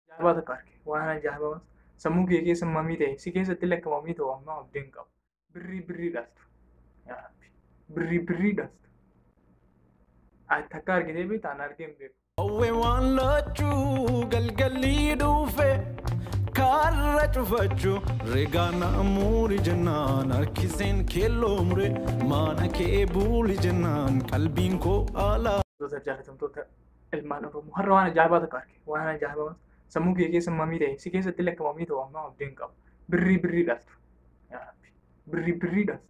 Jaabaa tokko arge. Waan ajaa'ibaa waan sammuu kee keessa mamii ta'e si keessatti lakka mamii ta'u amma abdii hin qabu. Birrii birrii dhaltu. Yaa Rabbi. Birrii birrii dhaltu. Ati takka argitee beektaa an argee hin beeku. Hawwe waan laachuu galgalii dhufe karra cufachu regaana muuri jennaan harkiseen keelloo mure maana kee buuli jennaan qalbiin koo alaa. Wantoota jaalatamtoota ilmaan Oromoo har'a waan ajaa'ibaa tokko arge. Waan ajaa'ibaa sammuu kee keessa mamii ta'e si keessatti lakka mamii ta'u ammaa abdii hin qabu. Birrii birrii dhaltu. Yaa Rabbi. Birrii birrii dhaltu.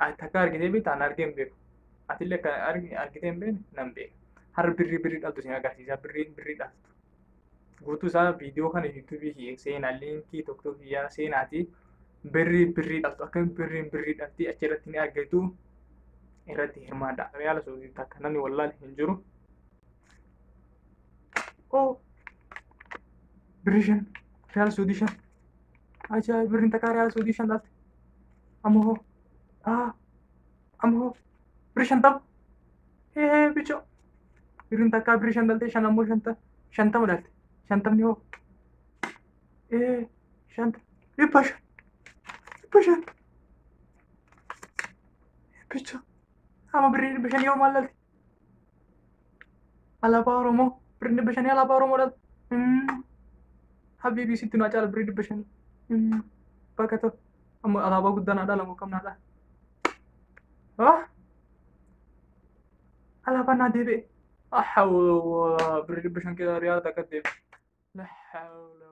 Ati takka argitee beektaa na argee hin beeku. Ati illee akka argi- argitee hin beekne nan beeka. Har'a birrii birrii dhaltu isin agarsiisa. Birrii birrii dhaltu. Guutuu isaa viidiyoo kana yuutuubii kiyya seenaa liinkii tokko tokko kiyyaa seenaatii birrii birrii dhaltu akka birriin birrii dhaltii achirratti ni argitu irratti hirmaadha. Riyaala suutii takka namni wallaal hin jiru. oo birri shan riyaal suudii shan ajaa birriin takkaa riyaal suudii shan dhaalte amma hoo aa amma hoo birri shantama hee bichoo birriin takkaa birri shan dhaalte shan ammoo shanta shantama dhaalte shantamni hoo ee shanta dhibba shan dhibba shan bichoo amma birrii dhibba shan yoo maal dhaalte Alaabaa Oromoo birrii dhibba shanii alaabaa Oromoo dha. Habiibii sitti naa caala birrii dhibba shanii. Bakka ta'u amma alaabaa guddaa naa dhaalamu kam naa dhaala. Ah! Alaabaa naa deebi'e. Ahawwa birrii dhibba shan keessaa riyaala takka deebi'e. La hawla.